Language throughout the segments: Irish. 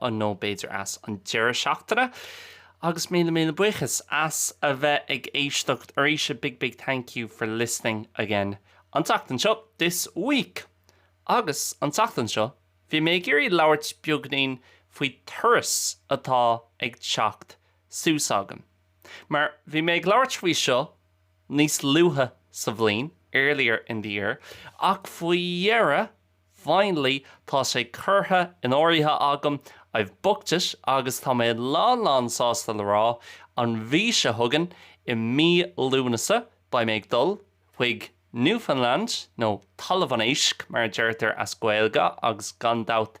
ann nó b'fhéidir ag an deireadh seachtaine agus míle míle buíochas as a bheith ag éisteacht arís a big big thank you for listening again an tseachtain seo this week agus an tseachtain seo bhí mé ag iarraidh labhairt beagainín faoi turas atá ag teacht suas agam mar bhí mé ag labhairt faoi seo níos luaithe sa bhliain earlier in the year ach faoi dheireadh Finally, tá sé curtha in áirithe agam, I've booked it, agus tá mé lán lán sásta le rá, an mhí seo chugainn, i mí Lúnasa, beidh mé ag dul chuig Newfoundland, nó Talamh an Éisc mar a deirtear as Gaeilge agus gan dabht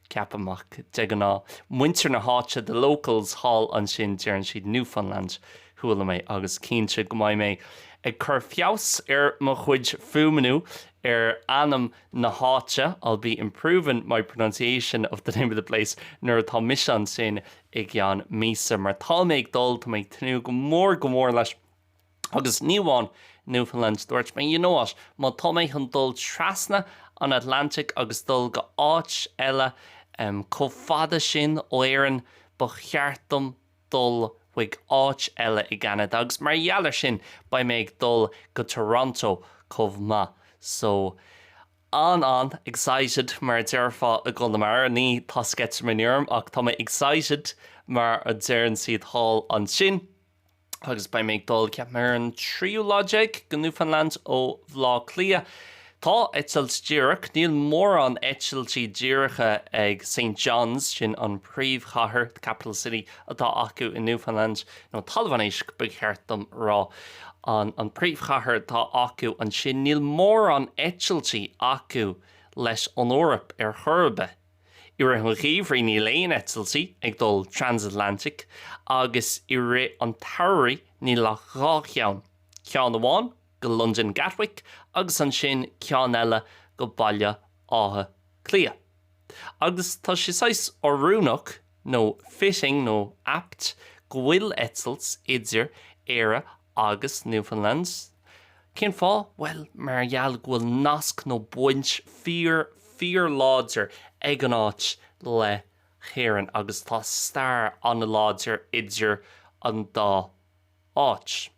ceapaim, ach de ghnáth, muintir na háite, the locals, thall ansin, deireann siad Newfoundland, chuala mé, agus cinnte go mbeidh mé ag cur feabhas ar mo chuid fuaimniú ar ainm na háite, I'll be improving my pronunciation of the name of the place, nuair atá mise ansin i gceann míosa, mar tá mé ag dul, tá mé ag tnúth go mór, go mór leis. Agus ní amháin Newfoundland, dúirt mé, you know what, má tá mé chun dul trasna an Atlantaigh agus dul go áit eile chomh fada sin ó Éirinn, ba cheart dom dul chuig áit eile i gCeanada. Agus mar gheall ar sin, beidh mé ag dul go Toronto chomh maith. So, an-an excited mar a déarfá i gConamara, ní tá sceitimíní orm ach tá mé excited mar a deireann siad thall ansin. agus beidh mé ag dul, ceapaim, ar an tríú lá déag go Newfoundland ó Bhleá Cliath. Tá eitilt díreach, níl mórán eitiltí díreacha ag St. John's, sin an príomhchathair, the capital city, atá acu i Newfoundland, nó Talamh an Éisc ba cheart dom a rá, an príomhchathair atá acu ansin, níl mórán eitiltí acu leis an Eoraip ar chor ar bith. i rith an gheimhridh níl aon eitiltí ag dul trans-Atlantic agus i rith an tsamhraidh níl ach dhá cheann, ceann amháin go Londain Gatwick agus ansin ceann eile go Baile Átha Cliath. Agus tá sé saghas oiriúnach nó fitting nó apt go bhfuil eitilt idir Éire Agus Newfoundland? Cén fáth? Bhuel, mar gheall go bhfuil nasc nó baint fíor, fíorláidir ag an áit le hÉirinn agus tá stair an-láidir idir an dá áit.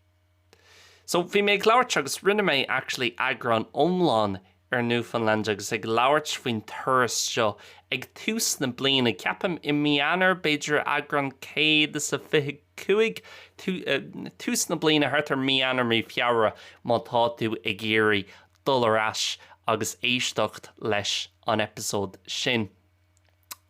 So, bhí mé ag labhairt agus rinne mé actually eagrán iomlán ar Newfoundland agus ag labhairt faoin turas seo ag tús na bliana, ceapaim, i Mí Eanáir, b'fhéidir, eagrán céad is a fiche cúig, tús na bliana, thart ar Mí Eanáir, Mí Feabhra, má tá tú ag iarraidh dul ar ais agus éisteacht leis an eipeasóid sin.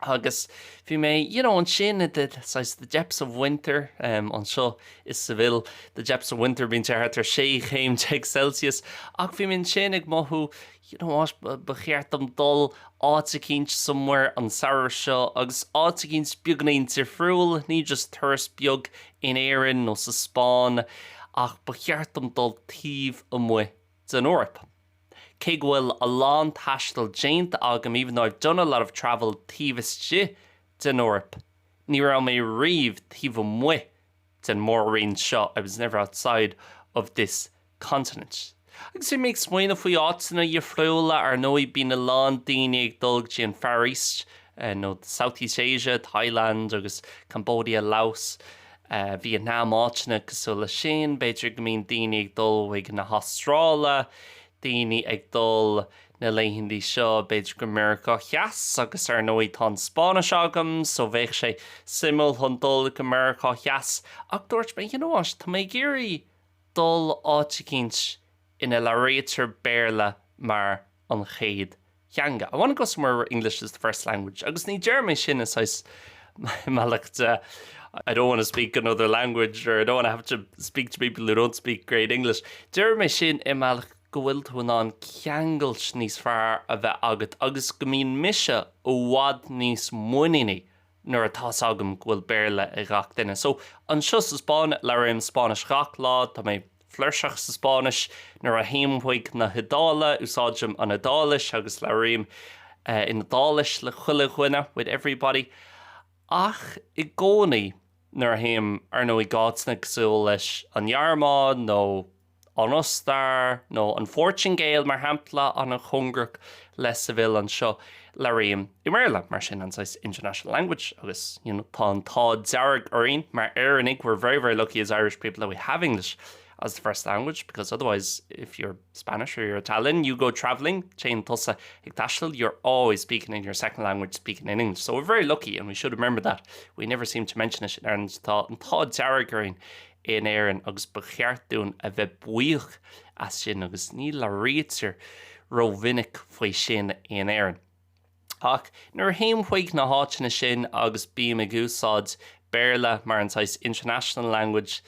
Agus bhí mé, you know, ansin i the, saghas, the depths of winter, em, anseo i Sevilla, the depths of winter, bíonn sé thart ar sé chéim déag Celsius, ach bhí mé ansin ag mothú, you know what, ba, ba cheart dom dul áit eicínt, somewhere, an samhradh seo, agus áit eicínt beagáinín difriúil, ní just turas beag in Éirinn nó sa Spáinn, ach ba cheart dom dul taobh amuigh den Eoraip. Cé go bhfuil a lán taistil déanta agam, even though I've done a lot of travel taobh istigh den Eoraip, ní raibh mé riamh taobh amuigh den mhór-roinn seo, I was never outside of this continent. Agus bhí mé ag smaoineamh faoi áiteanna difriúla, ar ndóigh, bíonn a lán daoine ag dul go dtí an Far East, nó Southeast Asia, Thailand agus Cambodia, Laos. Vietnam, áiteanna cosúil leis sin, b'fhéidir go mbíonn daoine ag dul chuig na hAstráile, daoine ag dul na laethanta seo b'fhéidir go Meiriceá Theas agus ar ndóigh tá an Spáinnis agam so bheadh sé suimiúil chun dul go Meiriceá Theas ach dúirt mé, you know what, tá mé ag iarraidh dul áit eicínt ina labhraítear Béarla mar an chéad theanga. I want to go somewhere where English is the first language agus ní deirim é sin i saghas bealach de I don't want to speak another language or I don't want to have to speak to people who don't speak great English. Deirim é sin i mbealach go bhfuil tú in ann ceangailt níos fearr a bheith agat agus go mbíonn mise i bhfad níos muiníní nuair atá 's agam go bhfuil Béarla ag gach duine. So, anseo sa Spáinn, labhraím Spáinnis gach lá, tá mé flúirseach sa Spáinnis. Nuair a théim chuig na hIodáile, úsáidim an Iodáilis agus labhraím in Iodáilis le chuile dhuine, with everybody. Ach, i gcónaí, nuair a théim, ar ndóigh, áiteanna cosúil leis an nGearmáin nó. an Ostair nó an Phortingéil, mar shampla, an-chóngarach le Seville anseo, labhraím i mBéarla, mar sin, an saghas international language agus, you know, tá an t-ádh dearg orainn mar Éireannaigh, we're very, very lucky as Irish people that we have English as the first language because otherwise if you're Spanish or you're Italian, you go travelling, téann tusa ag taisteal, you're always speaking in your second language, speaking in English. So we're very lucky and we should remember that. We never seem to mention it in Ireland. Tá an t-ádh dearg orainn in Éirinn agus ba cheart dúinn a bheith buíoch as sin agus ní labhraítear rómhinic faoi sin in Éirinn. Ach nuair a théim chuig na háiteanna sin agus bím ag úsáid Béarla mar an saghas international language,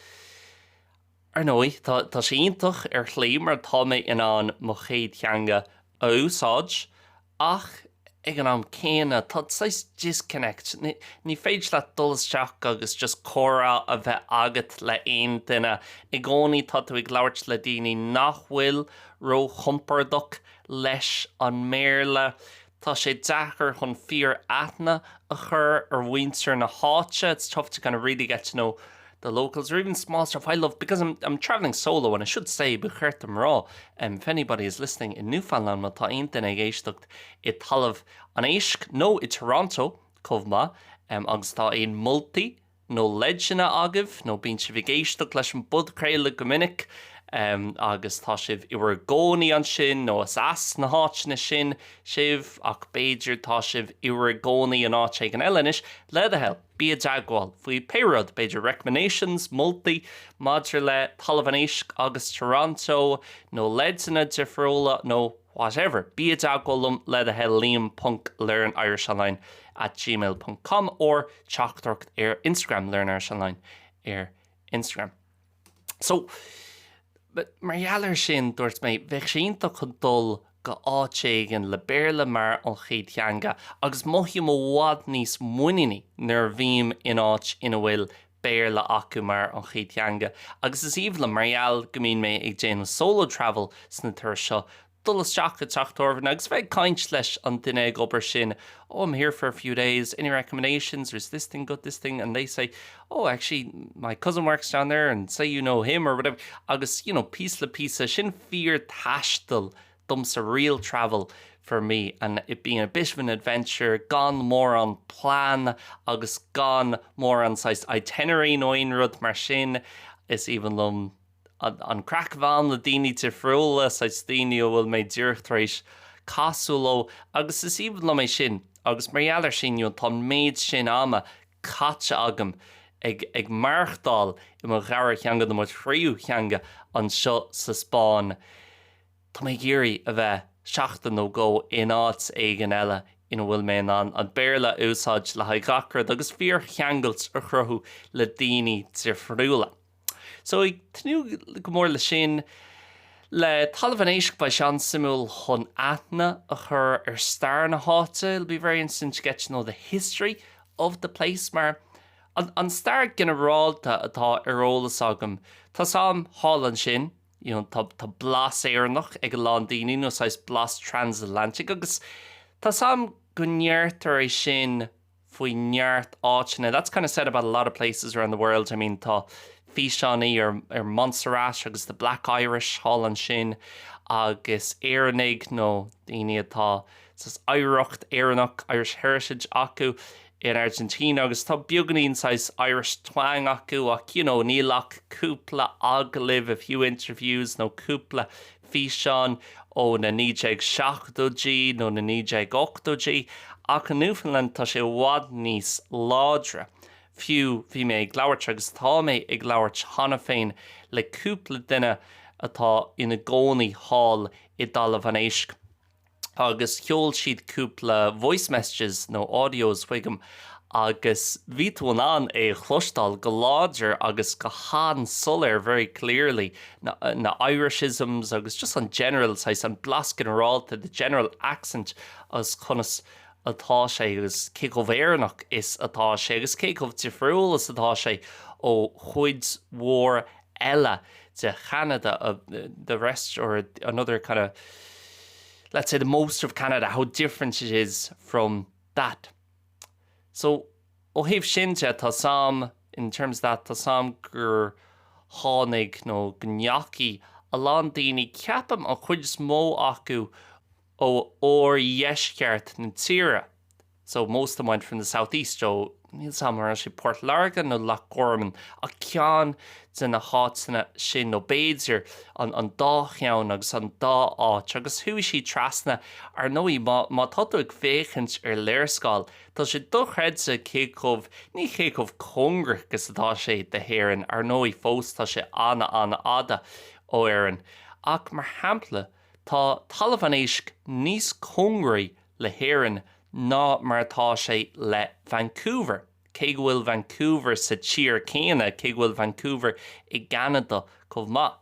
ar ndóigh, tá sé iontach ar shlí mar tá mé in ann mo chéad theanga a úsáid Ach ag an am céanna, tá saghas disconnect. Ní féidir leat dul isteach agus just comhrá a bheith agat le haon duine. I gcónaí tá tú ag labhairt le daoine nach bhfuil róchompordach leis an mBéarla. Tá sé deacair chun fíor-aithne a chur ar mhuintir na háite, it's tough to kind of really get to know the locals or even small stuff I love because I'm I'm travelling solo and I should say ba cheart dom rá um if anybody is listening in Newfoundland má tá aon duine ag éisteacht i dtalamh an éisc nó i Toronto chomh maith um agus tá aon mholtaí nó leideanna agaibh nó bíonn sibh ag éisteacht leis an bpodchraoladh go minic um agus tá sibh i bhur gcónaí ansin nó is as na háiteanna sin sibh ach b'fhéidir tá sibh i bhur gcónaí in áit éigin eile anois, le do thoil! Bí i dteagmháil faoi pé rud, b'fhéidir recommendations, moltaí maidir le talamh an éisc agus Toronto nó leideanna difriúla nó whatever, bí i dteagmháil liom le do thoil, liam ponc learnirishonline at gmail ponc com or teachtaireacht ar Instagram, learnirishonline ar Instagram. So, mar gheall ar sin, dúirt mé, bheadh sé iontach chun dul go áit éigin le Béarla mar an chéad theanga agus mothaím i bhfad níos muiníní nuair a bhím in áit ina bhfuil Béarla acu mar an chéad theanga agus is aoibhinn liom mar gheall go mbíonn mé ag déanamh solo travel sna turais seo dul isteach i dteach tábhairne agus a bheith ag caint leis an duine ag obair ansin, Oh, I'm here for a few days, any recommendations or is this thing good, this thing, and they say, oh, actually, my cousin works down there and say you know him or whatever, agus, you know, píosa le píosa, sin fíor-taisteal domsa, real travel for me, and it being a bit of an adventure, gan mórán plean agus gan mórán saghas itinerary nó aon rud mar sin, is aoibhinn liom an chraic a bheith agam le daoine difriúla, saghas daoine a bhfuil mé díreach tar éis casadh leo, agus is aoibhinn liom é sin, agus mar gheall ar sin, you know, tá an méid sin ama caite agam ag, ag maireachtáil i mo dhara theanga, nó mo thríú theanga, anseo sa Spáinn, tá mé ag iarraidh a bheith seachtain nó dhó in áit éigin eile ina bhfuil mé in ann an Béarla a úsáid le haghaidh gach rud, agus fíorcheangail a chruthú le daoine difriúla. So ag tnúth go mór leis sin. Le Talamh an Éisc beidh seans suimiúil chun aithne a chur ar stair na háite, it'll be very interesting to get to know the history of the place mar an stair ginearálta atá ar eolas agam tá a fhios agam thall ansin, you know tá tá blas Éireannach ag a lán daoine nó saghas blas transatlantic agus tá a fhios agam go ndeirtear é sin faoi neart áiteanna. That's kind of said about a lot of places around the world, I mean tá físeáin ar ar Montserrat agus the black Irish thall ansin agus Éireannaigh nó daoine atá saghas oidhreacht Éireannach, Irish heritage, acu in Argentina agus tá beagáinín saghas Irish twang acu ach you know níl ach cúpla agallamh, a few interviews nó cúpla físeán ó na 1970idí nó na 1980idí, ach i Newfoundland tá sé i bhfad níos láidre. Fiú bhí mé ag labhairt, agus tá mé ag labhairt cheana féin, le cúpla duine atá ina gcónaí thall i dTalamh an Éisc, agus sheol siad cúpla voice messages nó audios chugam agus bhí tú in ann é a chloisteáil go láidir agus go han-soiléir, very clearly, na, na Irish-isms agus just an general, saghas, an blas ginearálta, the general accent agus conas atá sé agus cé chomh Éireannach is atá sé agus cé chomh difriúil is atá sé ó chuid mhór eile de Canada, the rest or another kind of let's say the most of Canada, how different it is from that. So ó thaobh sin de, tá a fhios agam in terms of that tá a fhios agam gur tháinig nó go ndeachaigh a lán daoine, ceapaim, an chuid is mó acu, ó oirdheisceart na tíre so most of them went from the south-east so níl a fhios agam an raibh sé Port Láirge nó Loch Garman ach ceann de na háiteanna sin nó b'fhéidir an an dá cheann agus an dá áit agus chuaigh siad trasna. Ar ndóigh má má tá tú ag féachaint ar léarscáil tá sé dochreidte cé chomh, ní cé chomh cóngarach is atá sé do hÉirinn, ar ndóigh fós tá sé an-an-fhada ó Éirinn ach mar shampla, Tá Talamh an Éisc níos cóngaraí le hÉirinn ná mar atá sé le Vancouver, cé go bhfuil Vancouver sa tír chéanna, cé go bhfuil Vancouver i gCeanada chomh maith.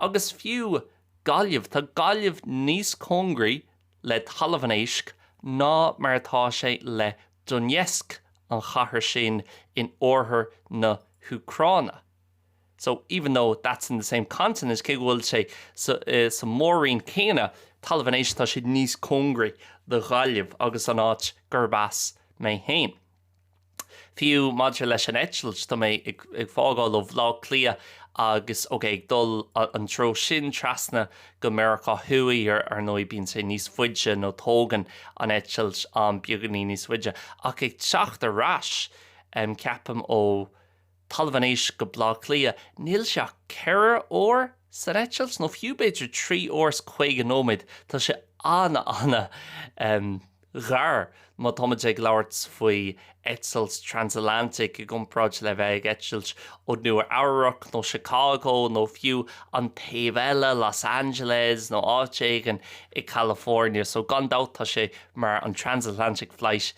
Agus fiú Gaillimh, tá Gaillimh níos cóngaraí le Talamh an Éisc ná mar atá sé le Donetsk, an chathair sin in oirthear na hÚcráine. So, even though that's in the same continent, cé go bhfuil sé sa mhór-roinn chéanna Talamh an Éisc, tá sé níos cóngaraí do Ghaillimh agus an áit gurb as mé féin. Fiú maidir leis an eitilt, tá mé ag fágáil ó Bhleá Cliath agus, ok, ag dul an treo sin trasna go Meiriceá Thuaidh, ar ndóigh, bíonn sé níos faide nó tógann an eitilt am beagáinín níos faide, ach ag teacht ar ais, ceapaim, ó. Talamh an Éisc go Bleá Cliath, níl sé ach ceithre uair san eitilt, nó fiú b'fhéidir trí uair is caoga nóiméad. Tá sé an-an-an-ghar má tá muid ag labhairt faoi eitilt transatlantic i gcomparáid le bheith ag eitilt ó Nua Eabhrac nó Chicago nó fiú an taobh eile, Los Angeles nó áit éigin i California. So gan dabht tá sé mar an transatlantic flight.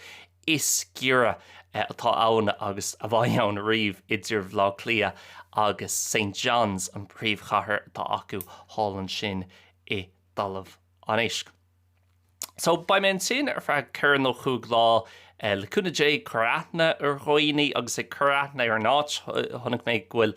is giorra atá ann agus a bhí ann riamh idir Baile Átha Cliath agus St John's, an príomhchathair atá acu thall ansin i dTalamh an Éisc. So, beidh mé ansin ar feadh ceithre nó cúig lá, le cúnamh Dé, ag cur aithne ar dhaoine agus ag cur aithne ar an áit. Chonaic mé go bhfuil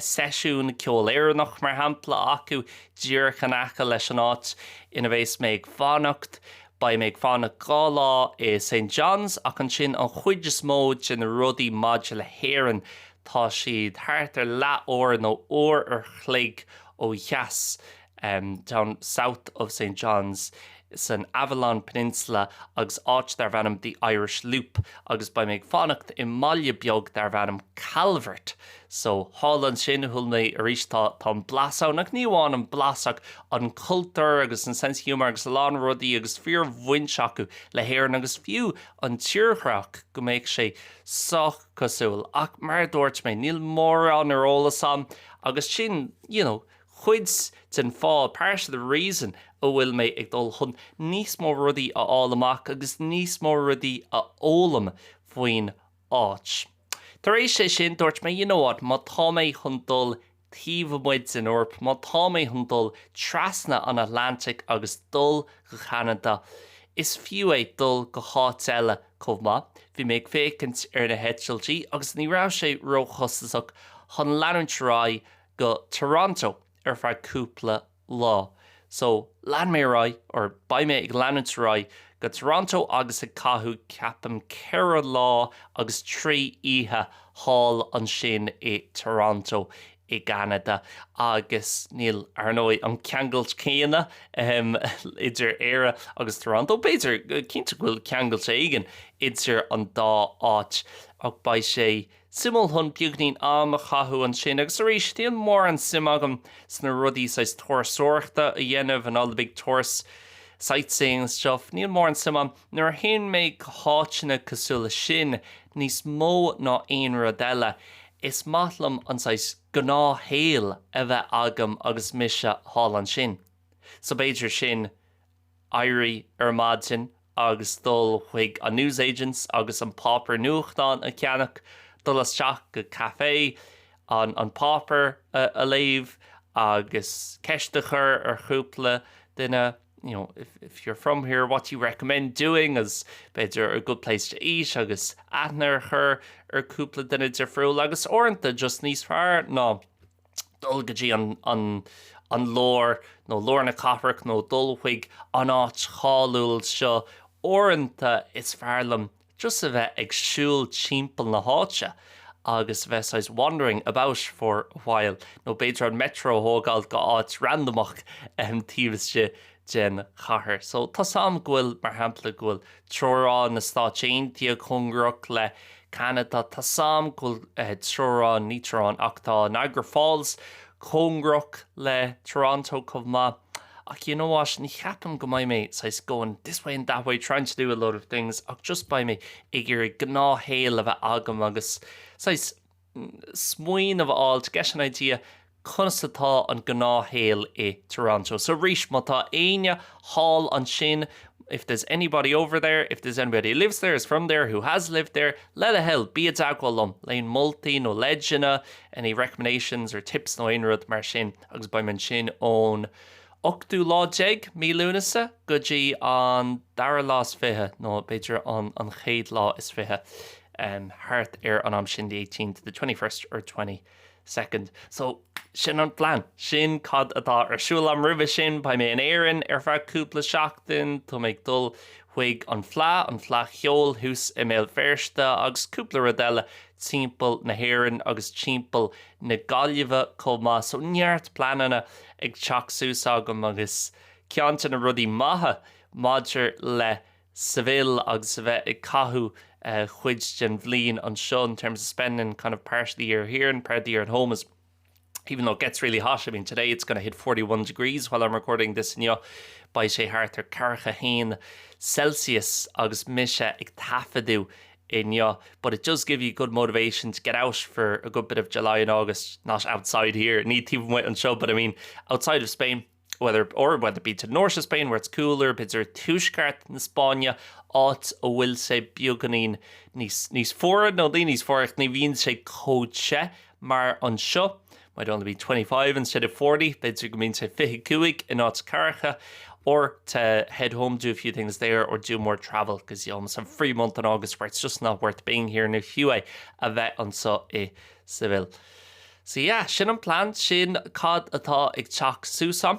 seisiún ceol Éireannach, mar shampla, acu díreach in aice leis an áit ina bheas mé ag fanacht. Beidh mé ag fanacht dhá lá i St. John's ach ansin an chuid is mó de na rudaí maidir le hÉirinn tá siad thart ar leath uair nó uair an chloig ó dheas down south of St. John's san Avalon Peninsula agus áit darb ainm The Irish Loop agus beidh mé ag fanacht i mbaile beag darb ainm Calvert So, thall ansin, shíl mé arís, tá an blas ann, ach ní amháin an blas ach an cultúr agus an sense of humour agus a lán rudaí agus fíorbhaint acu le hÉirinn agus fiú an tírdhreach, go mbeadh sé sách cosúil. Ach mar a dúirt mé, níl mórán ar eolas a'm agus sin, you know, cuid den fáth, part of the reason, a bhfuil mé ag dul chun níos mó rudaí a fháil amach agus níos mó rudaí a fhoghlaim faoin áit. Tar éis é sin, dúirt mé, you know what, má tá mé chun dul taobh amuigh den Eoraip, má tá mé chun dul trasna an Atlantic agus dul go Ceanada, is fiú é dul go háit eile chomh maith. Bhí mé ag féachaint ar na heitiltí agus ní raibh sé róchostasach chun leanúint ar aghaidh go Toronto ar feadh cúpla lá. So, lean mé ar aghaidh, or beidh mé ag leanúint ar aghaidh, go Toronto agus ag caitheamh, ceapaim, ceithre lá agus trí oíche thall ansin i Toronto i gCeanada. Agus níl, ar ndóigh, an ceangailt céanna, ahem, idir Éire agus Toronto. B'fhéidir, cinnte go bhfuil ceangailt éigin idir an dá áit ach beidh sé, suimiúil chun beagainín am a chaitheamh ansin agus arís níl mórán suim agam sna rudaí saghas turasóireachta a dhéanamh and all the big tourist sightseeing and stuff níl mórán suim a'm nuair a théann mé go háiteanna cosúil le sin níos mó ná aon rud eile is maith liom an saghas gnáthshaol a bheith agam agus mise thall ansin so b'fhéidir sin éirí ar maidin agus dul chuig an newsagents agus an páipéar nuachtáin a cheannach, dul isteach go café, an páipéar a léamh agus ceist a chur ar chúpla duine, you know, if you're from here, what do you recommend doing is, b'fhéidir, a good place to eat agus aithne a chur ar chúpla duine difriúil agus uaireanta just níos fearr ná. dul go dtí an lár nó lár na cathrach nó dul chuig an áit cháiliúil seo, uaireanta is fearr liom just a bheith ag siúl timpeall na háite agus a bheith saghas wandering about for a while nó b'fhéidir an Metro a thógáil go áit randamach taobh istigh den chathair. So tá a fhios agam go bhfuil, mar shampla, go bhfuil teorainn na Stáit Aontaithe cóngarach le Ceanada. Tá a fhios agam go bhfuil teorainn, ní teorainn ach tá Niagara Falls cóngarach le Toronto chomh maith. Ach you know what, ní cheapaim go mbeidh mé saghas going this way and that way trying to do a lot of things ach just beidh mé ag iarraidh gnáthshaol a bheith agam agus saghas smaoineamh a fháil, to get an idea, conas atá an gnáthshaol i dToronto. So arís, má tá éinne thall ansin, if there's anybody over there, if there's anybody who lives there, is from there, who has lived there, le do thoil, bí i dteagmháil liom, le haon moltaí nó leideanna, any recommendations or tips nó aon rud mar sin agus beidh mé ansin ón ochtú lá déag, mí Lúnasa, go dtí an dara lá is fiche, nó b'fhéidir an chéad lá is fiche, thart ar an am sin, the eighteenth to the twenty-first or twenty-second. So, sin an plean. Sin cad atá ar siúl agam roimhe sin. Beidh mé in Éirinn ar feadh cúpla seachtain. Tá mé ag dul chuig an Fleá, an Fleá Cheoil thuas i mBéal Feirste, agus cúpla rud eile timpeall na hÉireann agus timpeall na Gaillimhe chomh maith. So, neart pleananna. ag teacht suas agam agus ceann de na rudaí maithe maidir le Seville agus a bheith ag caitheamh cuid den bhliain anseo in terms of spending kind of part of the year here and part of the year at home is even though it gets really hot, I mean today it's going to hit 41 degrees while I'm recording this inniu, beidh sé thart ar ceathracha a haon Celsius agus mise ag taifeadadh inniu, but it does give you good motivation to get out for a good bit of July and August, not outside here, ní taobh amuigh anseo, but I mean outside of Spain, whether or whether it be to the north of Spain where it's cooler, b'fhéidir tuaisceart na Spáinne, áit a bhfuil sé beagáinín níos, níos fuaire nó ní níos fuaire ach ní bhíonn sé chomh te mar anseo, might only be twenty five instead of forty, b'fhéidir go mbíonn sé fiche a cúig in áit ceathracha, or to head home, do a few things there, or do more travel, because you almost have free month in August where it's just not worth being here, nó fiú é a bheith anso i Seville. So yeah, sin an plean, sin cad atá ag teacht suas ann.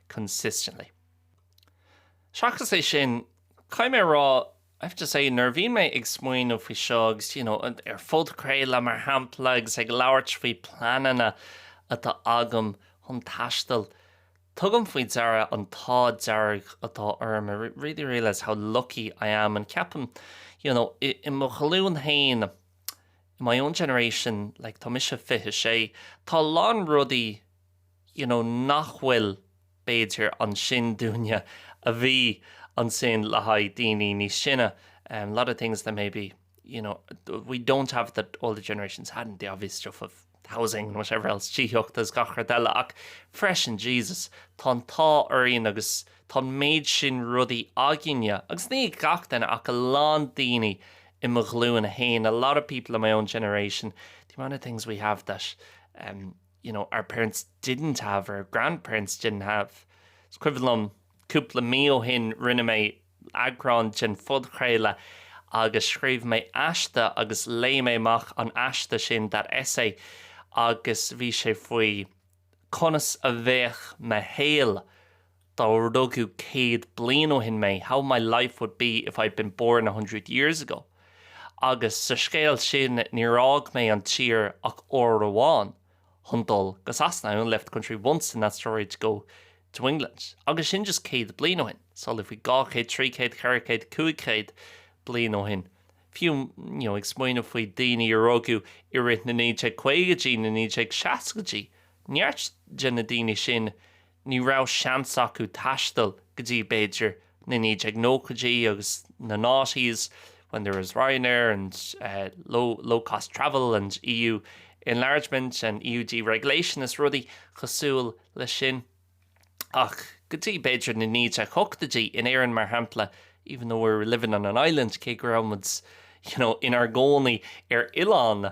consistently. Seachas é sin, caithfidh mé a rá, I have to say, nuair a bhíonn mé ag smaoineamh faoi seo agus, you know, ar phodchraoladh, mar shampla, agus ag labhairt faoi pleananna atá agam chun taistil, tugaim faoi deara an t-ádh dearg atá orm, I really realise how lucky I am, and ceapaim, you know, i mo ghlúin féin, in my own generation, like, tá mise fiche sé, tá a lán rudaí, you know nach bhfuil, b'fhéidir, ansin dúinne a bhí ansin le haghaidh daoine níos sine, em, lot of things that maybe, you know, we don't have that older generations hadn't, the obvious stuff of housing and whatever else, tithíocht agus gach rud eile ach freisin, Jesus, tá an t-ádh orainn agus tá an méid sin rudaí againne agus ní ag gach duine ach a lán daoine i mo ghlúin féin, a lot of people in my own generation, the amount of things we have that, em. you know, our parents didn't have, our grandparents didn't have. Is cuimhin liom cúpla mí ó shin rinne mé eagrán den phodchraoladh agus scríobh mé aiste agus léigh mé amach an aiste sin, that essay, agus bhí sé faoi conas a bheadh mo shaol Dá rugadh céad bliain ó shin mé, how my life would be if I'd been born a hundred years ago. Agus sa scéal sin, níor fhág mé an tír ach uair amháin chun dul go Sasana, I only left the country once in that story to go to England. Agus sin just céad bliain ó shin. Samhlaigh faoi dhá chéad, trí chéad, ceithre chéad, cúig chéad bliain ó shin. Fiú, you know, ag smaoineamh faoi daoine a rugadh i rith na 1950idí, na 1960idí, neart de na daoine sin Ní raibh seans acu taisteal go dtí, b'fhéidir, na 1990idí agus na noughties, when there was Ryanair and low, low-cost travel and EU enlargement and EU deregulation is rudaí cosúil leis sin, ach go dtí, b'fhéidir, na 1980idí, in Éirinn, mar shampla, even though we're living on an island, cé go raibh muid, you know, inár gcónaí ar oileán.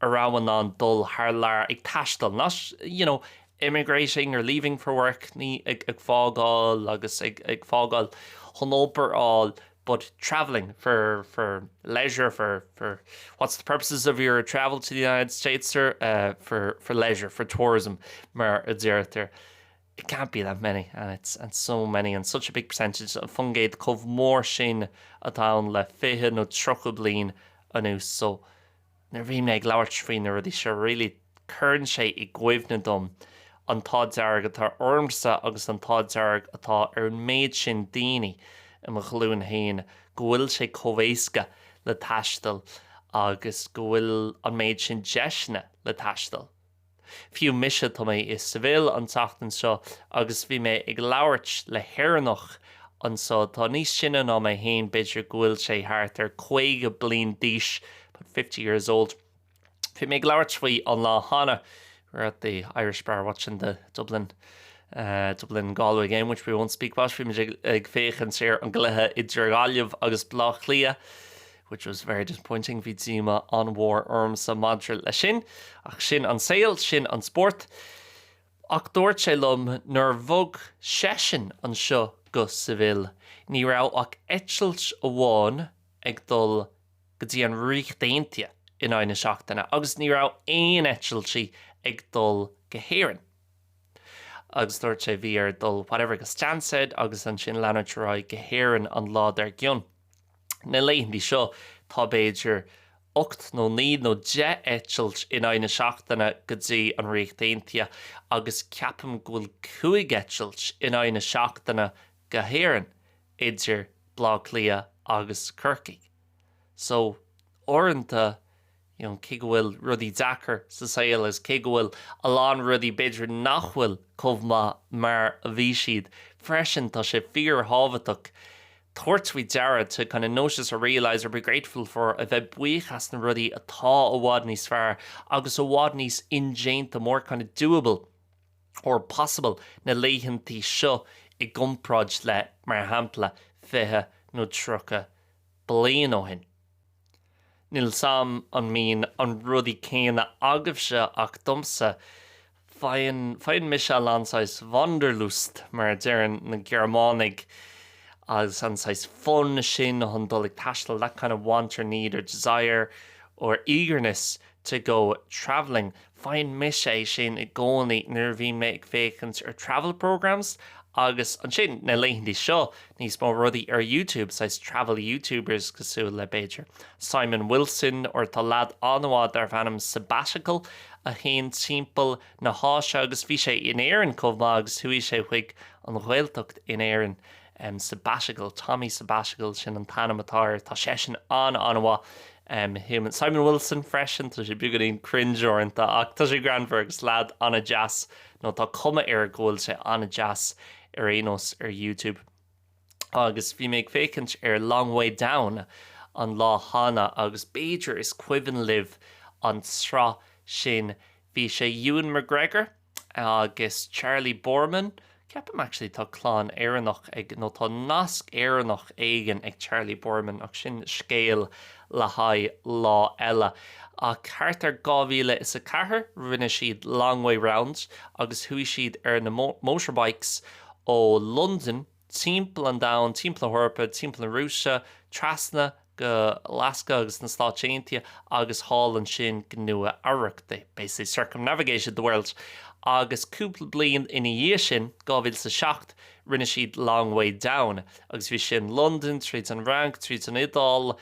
a raibh in ann dul thar lear ag taisteal, not, you know, emigrating or leaving for work, ní ag fágáil agus ag fágáil chun obair a fháil, but travelling for, for leisure, for, for what's the purposes of your travel to the United States, sir, for, for leisure, for tourism, mar a deirtear. It can't be that many, and it's, and so many, and such a big percentage, an faoin gcéad chomh mór sin atá ann le fiche nó tríocha bliain anuas, so, Nuair a bhíonn mé ag labhairt faoi na rudaí seo really cuireann sé i gcuimhne dom an t-ádh dearg atá ormsa agus an t-ádh dearg atá ar an méid sin daoine i mo ghlúin féin go bhfuil sé chomh éasca le taisteal agus go bhfuil an méid sin deiseanna le taisteal. Fiú mise, tá mé i Seville an tseachtain seo agus bhí mé ag labhairt le hÉireannach anseo atá níos sine ná mé féin, b'fhéidir go bhfuil sé thart ar 50 bliain d'aois, about fifty years old. Bhí mé ag labhairt faoi an lá cheana, we were at the Irish bar watching the Dublin, Dublin-Galway game, which we won't speak about, bhí muid ag féachaint ar an gcluiche idir Gaillimh agus Baile Átha Cliath, which was very disappointing, bhí díomá an-mhór ormsa maidir leis sin, ach sin an saol, sin an spórt. Ach dúirt sé liom nuair bhog seisean anseo go Seville, ní raibh ach eitilt amháin ag dul go dtí an Ríocht Aontaithe in aghaidh na seachtaine agus ní raibh aon eitiltí ag dul go hÉirinn. Agus dúirt sé bhí air dul whatever go Stansted agus ansin leanúint ar aghaidh go hÉirinn an lá dár gcionn. Na laethantaí seo tá b'fhéidir ocht nó naoi nó deich eitilt in aghaidh na seachtaine go dtí an Ríocht Aontaithe agus ceapaim go bhfuil cúig eitilt in aghaidh na seachtaine go hÉirinn idir Bleá Cliath agus Corcaigh. So uaireanta you know, cé go bhfuil rudaí deacair sa saol is cé go bhfuil a lán rudaí b'fhéidir nach bhfuil chomh maith mar a bhí siad, freisin tá sé fíorthábhachtach tabhairt faoi deara, to kind of notice or realise or be grateful for, a bheith buíoch as na rudaí atá i bhfad níos fearr agus i bhfad níos indéanta, more kind of doable or possible, na laethantaí seo i gcompráid le, mar shampla, fiche nó tríocha bliain ó shin. Níl a fhios agam an mbíonn an rudaí céanna agaibhse ach domsa? Faigheann, faigheann mise a lán saghas Wanderlust, mar a deireann na Gearmánaigh, agus an saghas fonn sin ag dul ag taisteal, that kind of want or need or desire or eagerness to go travelling. Faigheann mise é sin i gcónaí nuair a bhíonn mé ag féachaint ar travel programmes agus ansin, na laethantaí seo, níos mó rudaí ar YouTube, saghas travel YouTubers cosúil le, b'fhéidir, Simon Wilson or tá lead an-mhaith darb ainm Sabbatical a théann timpeall na hÁise agus bhí sé in Éirinn chomh maith agus chuaigh sé chuig an Ghaeltacht in Éirinn. Sabbatical, Tommy Sabbatical, sin an t-ainm atá air. Tá seisean an-an-mhaith. Simon Wilson freisin, tá sé beagáinín cringe uaireanta ach tá sé greannmhar agus lead an-deas, nó tá cuma air go bhfuil sé an-deas ar aon nós ar YouTube. Agus bhí mé ag féachaint ar Long Way Down an lá cheana agus b'fhéidir is cuimhin libh an tsraith sin, bhí sé Ewan McGregor, agus Charlie Boorman, ceapaim actually tá clann Éireannach ag, nó tá nasc Éireannach éigin ag Charlie Boorman ach sin scéal le haghaidh lá eile. Ach thart ar 2004 rinne siad Long Way Round agus chuaigh siad ar na motorbikes ó Londain, timpeall an domhain, timpeall na hEorpa, timpeall na Rúise, trasna go Alaska agus na Stáit Aontaithe agus thall ansin go Nua Eabhrac, they, basically, circumnavigated the world agus cúpla bliain ina dhiaidh sin, 2007, rinne siad Long Way Down agus bhí sin Londain, tríd an bhFrainc, tríd an Iodáil,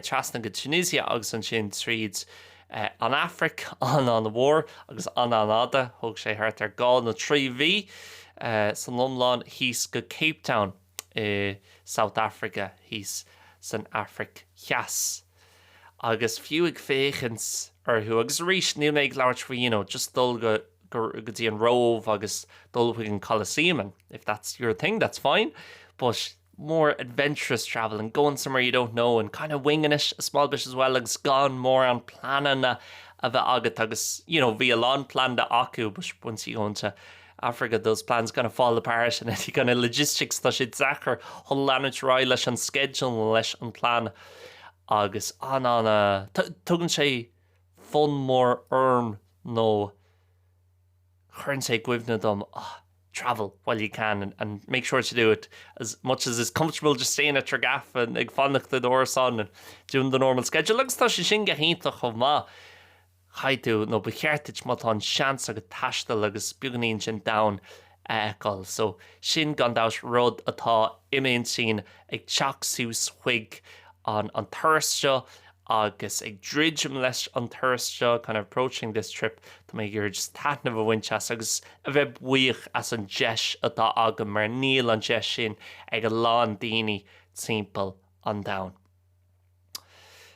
trasna go Tunisia agus ansin tríd. an Afraic an-an-mhór agus an-an-fhada, thóg sé thart ar dhá nó trí mhí san iomlán síos go Cape Town i South Africa, thíos san Afraic Theas. Agus fiú ag féachaint orthu, agus arís, níl mé ag labhairt faoi, you know, just dul go, go, go dtí an Róimh agus dul chuig an Colosseum and if that's your thing, that's fine, but, more adventurous travel and going somewhere you don't know and kind of winging it a small bit as well agus gan mórán pleananna a bheith agat agus you know, bhí a lán pleanáilte acu but once you go into Africa those plans kind of fall apart and you kind of logistics tá sé deacair chun leanúint ar aghaidh leis an schedule leis an plan agus an an tugann sé fonn mór orm nó cuireann sé i gcuimhne dom, ah, travel while you can and and make sure to do it as much as is comfortable, just staying at your gaff and ag fanacht i d'árasán and doing the normal schedule agus tá sé sin go hiontach chomh maith, caithfidh tú, nó ba cheart duit má tá an seans agat taisteal agus beagáinín den domhan a fheiceáil. So, sin gan dabht rud atá i m'intinn ag teacht suas chuig an an turas seo. Agus ag druidim leis an turas seo, kind of approaching this trip, tá mé ag iarraidh just taitneamh a bhaint as agus a bheith buíoch as an deis atá agam mar níl an deis sin ag a lán daoine timpeall an domhain.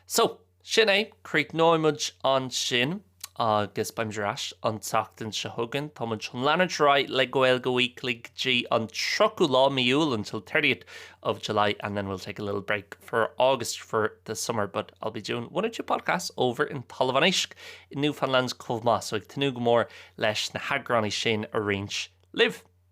So, sin é, críochnóidh muid ansin. Agus beimid ar ais an tseachtain seo chugainn. Tá muid chun leanúint ar aghaidh le Gaeilge Weekly go dtí an 30ú lá de mhí Iúil, until 30th of July, and then we'll take a little break for August for the summer, but I'll be doing one or two podcasts over in Talamh an Éisc in Newfoundland chomh maith, so ag tnúth go mór leis na heagráin sin a roinnt libh!